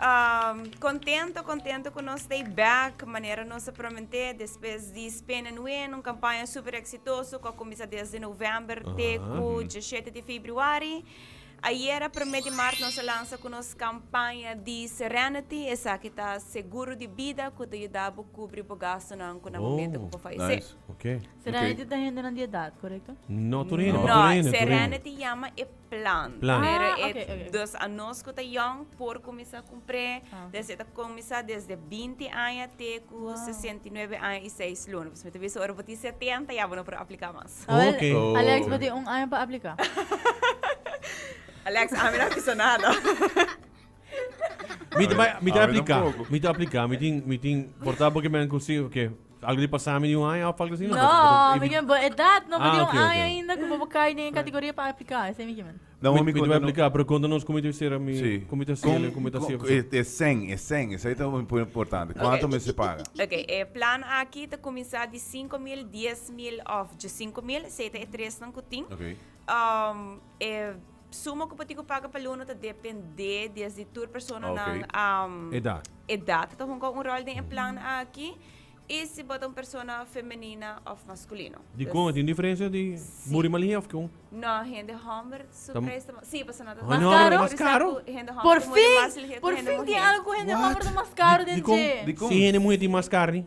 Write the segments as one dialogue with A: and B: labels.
A: Um, contento, contento cu nos stay back, manera nos a prometé después di Spin and Win, un campaña super exitoso cu a comienza desde november te cu 17 di februari. Ayer, primer di maart, nos a lanza cu nos campaña di Serenity, esaki ta seguro di bida cu ta yuda bo cubri bo gastonan cu na momento cu bo fallecé. Nice. Ok. Serenity
B: ta hendenan
C: di edad, correcto? No, tur hende, tur No, hende,
B: tur hende. Serenity
A: llama e Plan. Plan. Pero Ah, e oké,
B: oké. dos
C: a
A: nos
C: ku ta
A: yòn por kuminsá kumpré. Ah, oké. Desde ta kuminsá desde binti aña te ku Wow. sesenta i nuebe aña i seis luna. Pues mi ta bisa ora bo tin setenta ya bo no por apliká mas. A ver, Oké. Alex,
B: bo tin un
D: aña pa
C: apliká.
A: Alex, ami no a bisa nada. Mi
B: ta bai, mi ta Abi apliká, tampoco. mi ta apliká. Mi
D: tin,
B: mi tin, por ta bo ke mi a hasi, oké. Algu di pasa mi di un aña of algu asi? No, mi kimen bo
C: edat no bo di un aña ainda ku bo por kai
B: den e
C: kategoria pa aplika, esei mi kimen. Dan hopi konta nos. Aplika,
D: pero konta
B: nos komo ta sera mi, komo ta sera mi, komo
D: ta
B: sera mi. E sèn, e sèn,
D: esei ta importante. Kuantu mester paga? Ok, e plan
A: aki ta kuminsá di sinku mil, dies mil òf dje sinku mil, esei ta e tresnan ku tin.
D: E
A: Sumo cu patica paga pa luno ta depende desde tur personanan edad.
B: Ta hunga
A: un rol den e plan aki y si bo ta un persona femenina of masculino. Dicon a tin diferencia
B: di muri malhia of con? No, hende homber
A: su prijs ta mas. Si, pasobra nan ta mas caro. Hende homber ta mas caro?
B: Si,
C: hende homber
B: ta mas
C: caro. Por fin tin algo cu hende homber ta mas caro den dje. Dicon? Si
D: hende muher
C: tin mas
D: carne.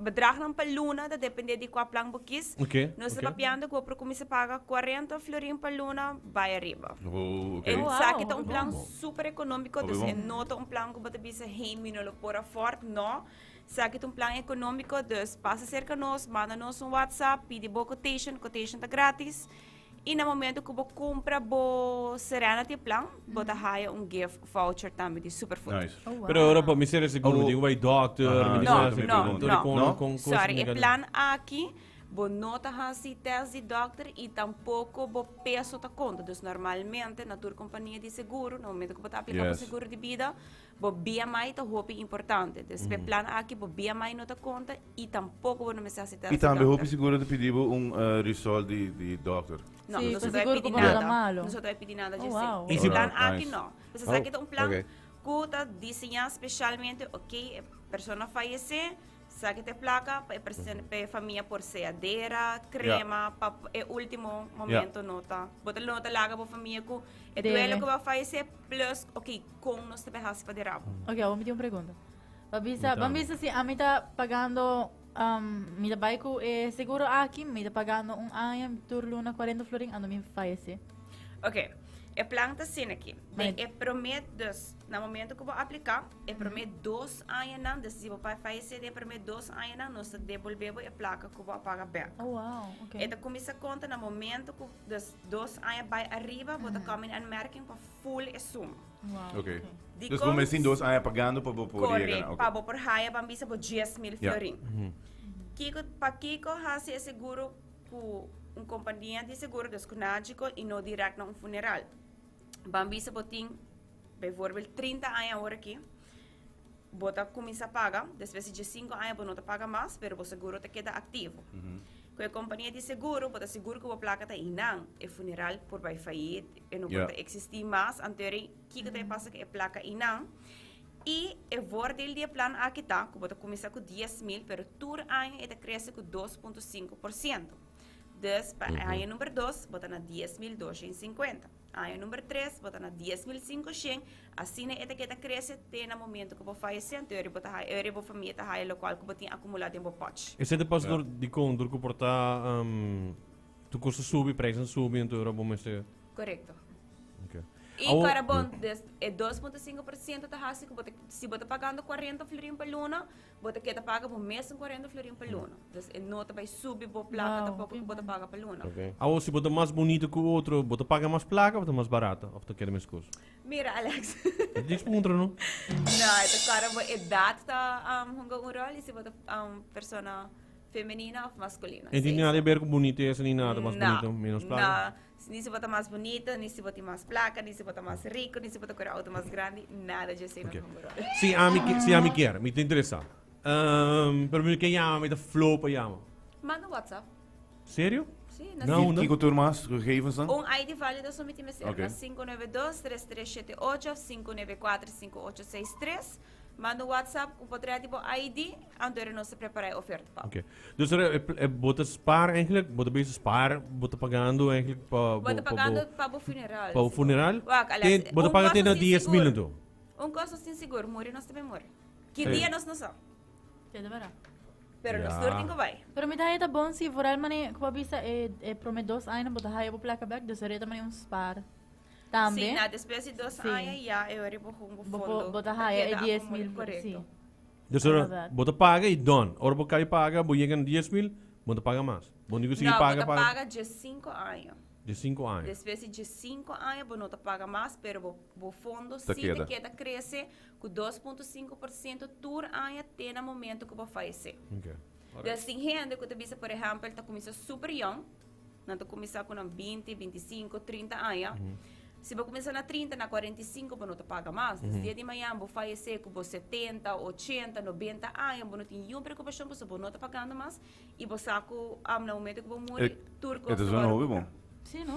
A: Bedragnan pa luna ta dependé di kua plan bo kis. Nos ta papiando
B: ku bo por
A: kuminsá paga kuarenta florin pa luna bai ariba. Esaki
D: ta un plan
A: súper ekonómiko, dus e no ta un
D: plan ku bo
A: ta bisa, hei, mi no lo por afòrd. Nò, esaki ta un plan ekonómiko, dus pasa serka nos, manda nos un whatsapp, pidi bo quotation, quotation ta grátis. I na momento ku bo kumpra bo Serenity plan, bo ta haya un gift voucher tambe di Superfood. Nice. Oh, wow. Pero ora pa
D: mi ser
B: ese Oh, no ku tin ku bai dokter, Aha, mi tin No, ku hasi no, pregunta. no.
D: Kon-
A: No?
B: kon-
A: kon- Sorry, e kon- plan aki bo no ta hasi test di dokter i tampoko bo peso ta konta. Dus normalmente na tur kompania di seguro, na momento ku bo ta aplika pa Yes. seguro di bida, Bo BMI ta hopi importante. Entonces, pe plan aki bo BMI no ta conta y tampoco bo no mester hasi test di dokter. Y tambe hopi
D: seguro
A: ta
D: pidi bo un result di di dokter. No, Sí, nos pa no ta bay seguro cu pidi
A: bo no ta nada.
C: malo.
A: Nos
C: no ta
A: bay
C: pidi nada,
A: Oh, JC.
C: wow. Pe
A: ese Alright, plan aki
C: nice. no.
A: Pues esaki
D: Oh, ta un
A: plan okay. cu ta diseña specialmente, ok, e persona fayece, Sa ke ta e plaka pa e presidente pa e famia por sea dera, krema, pa e ultimo momento no ta. Bo ta no ta laga bo famia ku e Dere. duelo ku bo a fallecé plus ok kon nos ta be hasi pa dera bo. Ok, awor mi tin un pregunta.
C: Ba bisa, Punta. ban bisa si ami ta pagando, um, mi ta bai ku e seguro aki, mi ta pagando un aña tur luna 40 florin ando mi fayese. Ok, e
A: plan ta sin aki. Den Maneer. e promé
C: dus
A: Na momento cu bo aplica, e prome dos añanan, dus, si bo pa fayece den e prome dos añanan, nos ta devolbe bo e placa cu bo a paga back. Oh, wow, ok. E ta
C: cuminsa conta na
A: momento cu, dus, dos aña bay arriba, bo ta come in aanmerking pa full e suma. Wow, Ok. ok.
C: Di Dus bo cons-
D: mes tin dos
A: aña
D: pagando
A: pa
D: bo por Correct, yega na. ok. pa bo por
A: haya,
D: ban bisa
A: bo dies mil Ja. florin. Kico, pa kico haci e seguro cu un compania di seguro, dus cu Nagico, y no direct na un funeral? Ban bisa bo tin. Bijvoorbeeld trinta aña aworakí bo ta kuminsá paga, despues di djesinku aña bo no ta paga mas, pero bo seguro ta keda aktivo. Ku e kompania di seguro, bo ta sigur ku bo plaka ta hinan. E funeral por bai fayit, e no por ta eksistí mas, antori kiko ta e pasa ku e plaka hinan. I e vordeel di e plan aki ta ku bo ta kuminsá ku dies mil, pero tur aña e ta krese ku dos punto sinku por siento. Dus pa aña number dos bo ta na dies mil dosha i sinkuenta. Año number tres bo ta na dies mil sinku shen, asina e ta keda krese te na momento ku bo fayese anto eri bo ta haya eri bo famia ta haya lokual ku bo tin akumulá den bo pòch. E sete pas dor di
B: kountr ku por ta tur kos ta subi, preisnan subi anto ora bo mester. Korekto. I
A: Awo- kora bon des e dos punto sinku por siento ta hasi ku bo ta si bo ta pagando kuarenta florin pa luna Bo ta keda paga bo mes en cuarenta florin pa luna. Dus e no ta bay subi bo placa Wow. tampoco cu bo ta paga pa luna. Ok. Awor si bo ta mas
B: bonito cu otro, bo ta paga mas placa of ta mas barato of ta keda mescos? Mira Alex.
A: E ta difícil puntra no?
B: No, e
A: ta cara bo edad ta um, hunga un rol y si bo ta um, persona femenina of masculina. E tin Sí, nada so- e ber cu
B: bonitesa ni nada, mas No, bonito menos placa. no. Ni si bo ta mas
A: bunito, ni si bo tin mas plaka, ni si bo ta mas riku, ni si bo ta kore outo mas grandi, nada dje esei no ta homberó. Si ami si ami
B: kier, mi ta interesá. Pero mi no ke yama, mi ta flow pa yama. Manda un WhatsApp.
A: Serio?
B: Sí, na Di Naunda?
A: kiko tur mas?
D: Gegevensen? Un ID válido so mi
A: tin mester. Oké. Na sinku nove dos tres tres shete ocho sinku neve kuater sinku ocho seis tres. Manda un WhatsApp cu por trae di bo ID, anto era nos ta prepara e oferta pa bo. Oké. Dus er, e,
B: e, bo ta spaar eigenlijk, bo ta bezig spaar, bo ta pagando eigenlijk pa Bo bo, ta pa pagando bo,
A: pa bo funeral, pa bo señor. funeral. Wak,
B: alias, Ten, bo ta un paga
A: ten kosto na sin dies
B: mil sigur. anto. Un kosto sin sigur.
A: Muri nos ta bin muri. Ki Ei. dia nos no sa. Te ta bera.
C: Pero nos tur
A: tin cu Ja. bay.
B: Pero
A: mi ta haya ta bon si
C: vooral mane, cu bo a bisa, e, e prome dos añanan bo ta haya bo placa bek, dus er e ta mane un spaar. Tambe. Si na despues di dos
A: sí. aña ya e ora bo hungo
C: fondo.
A: Bo
C: ta haya
A: e dies mil
C: correcto. Sí. Dus
B: ora bo ta paga
C: y don.
B: Ora bo cay paga bo yega na dies mil bo ta paga mas. Bo nico sigui paga paga. No bo ta paga dje cinco
A: aña. Dje cinco aña.
B: Despues di dje cinco
A: aña bo no ta paga mas pero bo bo fondo sí ta keda
D: crece
A: cu dos punto cinco por ciento tur aña te na momento cu bo fayece. Okay. Alright.
B: Sin hende
A: cu ta bisa por ehempel ta cuminsa super young. Nan ta kuminsá ku nan binti, binti sinku, trinta aña. Si bo kuminsá na trinta, na kuarenta i sinku bo no ta paga mas. Des dia di mañana bo fayesé ku bo setenta, ochenta, nobenta aña, bo no tin niun preokupashon pasobra bo no ta pagando mas i bo sa ku am na momento ku bo muri tur kos ta wòrdu pagá.
D: Sí, no?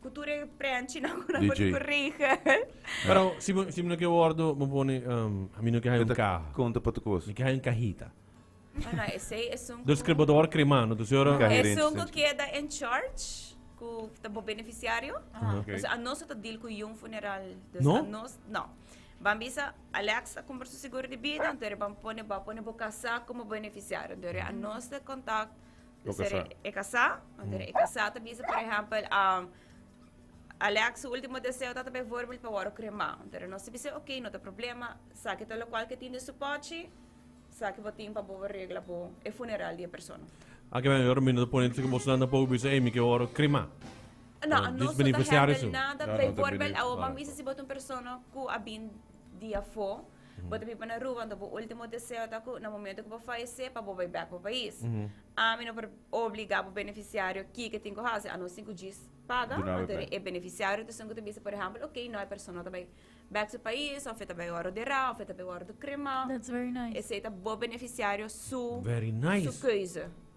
A: Cu tur e prenchi nan cu nan por DJ. corrige. Pero si
B: me, si me no quiero wordo, me pone, um, a mí no quiero Meta caja. Conta pa tu cos. Me quiero
D: cajita.
B: Ah, no,
A: esei es un Dus cu... cribador crema, no
B: te señora. Caja. Es Gerente, un cu gerente. queda
D: en
A: church, cu ta bo beneficiario. Ok. Dus a nos
D: no ta deal cu
A: yung funeral. Dus No? a nos,
B: no.
A: Ban bisa, Alex ta compra su seguro de bida, entonces ban pone, ba pone bo casa como beneficiario. Entonces a nos ta contact Lo Ser casá.
D: e casá. Wanneer
A: e casá te bisa, por ejempel, um, Alex su último deseo tata bijvoorbeeld pa word crema. Pero no se bisa, ok, no te problema. Saki ta lo cual que tin de su pochi, saki bo tin pa bo regla bo e funeral die persona. Aki men yor
B: minder pone si como snan tampoco bisa, hey, mi que word crema. No, Ah, no dis
A: so ta beneficiario
B: handle su. nada.
A: No,
B: no te
A: Bijvoorbeeld, bene- awo ah.
D: man
A: bisa
D: si bo
A: ta un persona cu a bin di afo, Bo ta bin pa na Aruba, anto bo ultimo deseo ta cu na momento cu bo fayece pa bo bay bek bo pais. Ami no por obliga bo beneficiario kiko tin cu haci, a no sin cu djis paga. Duna bay Anto bek. e beneficiario ta sun
D: cu
A: ta bisa, por ehempel, ok, no, e persona no ta bay bek su pais, of e ta bay worde dera, of e ta bay worde crema. That's very nice. Esey
C: ta bo beneficiario
A: su, Very nice. su
B: keuze.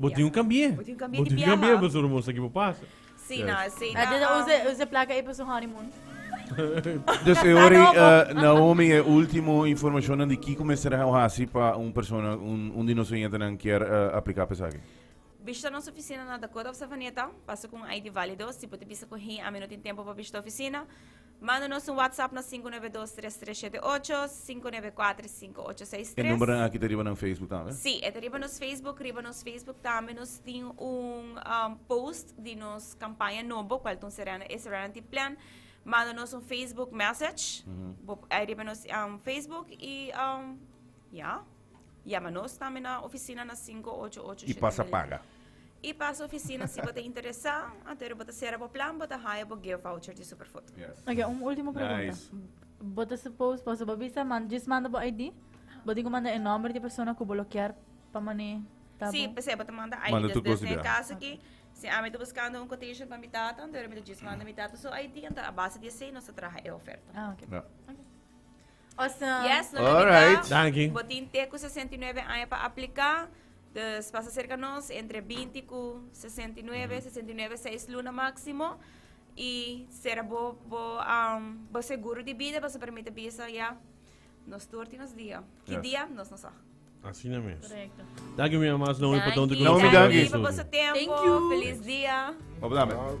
B: Bo
A: tin un kambié.
B: Bo tin un kambié
A: pasobra bo mos sa ki bo
B: pasa. A
A: Deda usa e plaka
C: ei pa su honeymoon.
D: Dus e ora ei Naomi e ultimo informashonnan di kiko mester hasi pa un persona, un di nos oyentenan kier apliká pa esaki. Bishita nos ofisina
A: na Dakota òf Savaneta. Pasa ku un ID válido. Si bo ta bisa ku hei ami no tin tempu pa bishita ofisina. Manda nos un WhatsApp na sinku nuebe dos tres tres shete ocho, sinku nuebe kuater sinku ocho seis tres. E numbernan aki
D: ta riba nan Facebook tambe? Sí, e ta riba nos
A: Facebook. Riba nos Facebook tambe nos tin un post di nos kampaña nobo, kual ta un Serena e Serenity Plan. Manda nos un Facebook message, bo riba nos Facebook i ya. Yama nos tambe na oficina na cinco ocho ocho siete mil. Y pasa
D: paga. Y pasa
A: oficina si bo ta interesa, ater bo ta cera bo plan, bo ta haya bo gift voucher di Superfoto. Yes. Ok, un ultimo
D: pregunta.
C: Nice. Bo
D: ta suppose,
C: paso bo bisa, man, just manda bo ID, bo tin cu manda e nomber di e persona cu bo lo kier pa mane ta bo. Si, p'esei bo ta manda
A: ID. Manda tur cos di bia. Cas aki,
D: si
A: ami ta buscando un quotation pa mi tata, anto mi ta just manda mi tata su ID, anto a base di esei nos ta traha e oferta. Ah,
C: ok.
D: Ja. Ok.
C: Awesome.
A: Alright. Danki. Bo
D: tin te
B: ku sesenta i
A: nuebe aña pa apliká. Dus pasa serka nos entre binti ku sesenta i nuebe. Sesenta i nuebe seis luna máksimo. I sera bo bo bo seguro di bida pasobra mi ta bisa ya nos tur tin nos dia. Ki dia nos no sa. Asina mes.
B: Korekto. Danki mi
C: Amas no hopi
B: pa tonto ku
A: nos Danki. Danki Danki pa boso
C: tempo.
B: Thank you. Felis dia.
A: Hopi dame. Ciao.